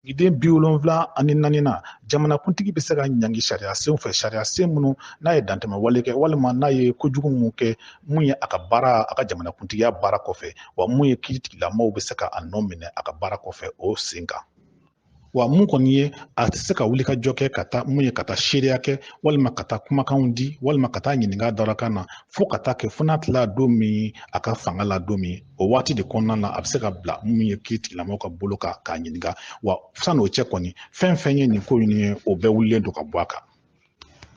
Sigiden bi wolonwula ani naaninan jamanakuntigi bɛ se ka ɲangi sariya senw fɛ sariya sen minnu n'a ye dantɛmɛ wale kɛ walima n'a ye kojugu minnu kɛ mun ye a ka baara a ka jamanakuntigiya baara kɔfɛ wa mun ye kiiritigɛlamaaw bɛ se ka a nɔminɛ a ka baara kɔfɛ o sen kan wa mun kɔni ye a tɛ se ka wulikajɔ kɛ ka taa mun ye ka taa seereya kɛ walima ka taa kumakanw di walima ka taa ɲininka dalakan na fo ka taa kɛ fo n'a tilala don min a ka fanga la don min o waati de kɔnɔna na a bɛ se ka bila min ye kiritigɛlamɔgɔ ka bolo kan k'a ɲininka wa san'o cɛ kɔni fɛn fɛn ye nin ko in ye o bɛɛ wulilen don ka bɔ a kan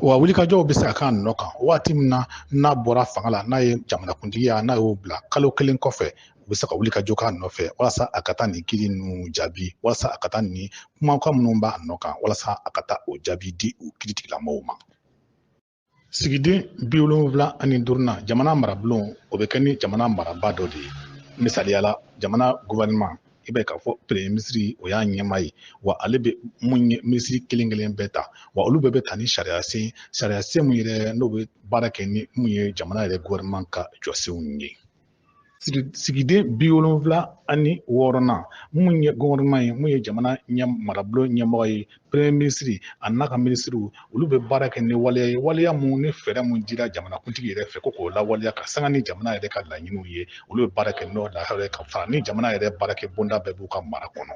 wa wulikajɔw bɛ se ka k'a nɔ kan waati min na n'a bɔra fanga la n'a ye jamanakuntigiya n'a y'o bila kalo kelen kɔfɛ u bɛ se ka wulikajɔ k'a nɔfɛ walasa a ka taa nin kiri ninnu jaabi walasa a ka taa nin kumakan minnu b'a nɔ kan walasa a ka taa o jaabi di u kiritigɛlamɔgɔw ma sigiden bi wolonwula ani duurunan jamana marabulon o bɛ kɛ ni jamana marabaa dɔ de ye misaliyala jamana gouvernement i b'a ye k'a fɔ premier minisiri o y'a ɲɛmaa ye wa ale bɛ mun ye minisiri kelen kelen bɛɛ ta wa olu bɛɛ bɛ ta ni sariya sen sariya sen mun yɛrɛ n'o bɛ baara kɛ ni mun ye jamana yɛrɛ gouvernement ka jɔsenw ye sigiden bi wolonwula ani wɔɔrɔnan mun ye gouvernement ye mun ye jamana ɲɛ marabolo ɲɛmɔgɔ ye premier minisiri a n'a ka minisiriw olu bɛ baara kɛ ni waleya ye waleya mun ni fɛɛrɛ mun dira jamanakuntigi yɛrɛ fɛ ko k'o lawaleya ka sanga ni jamana yɛrɛ ka laɲiniw ye olu bɛ baara kɛ n'o lahala ye ka fara ni jamana yɛrɛ baarakɛ bonda bɛɛ b'u ka mara kɔnɔ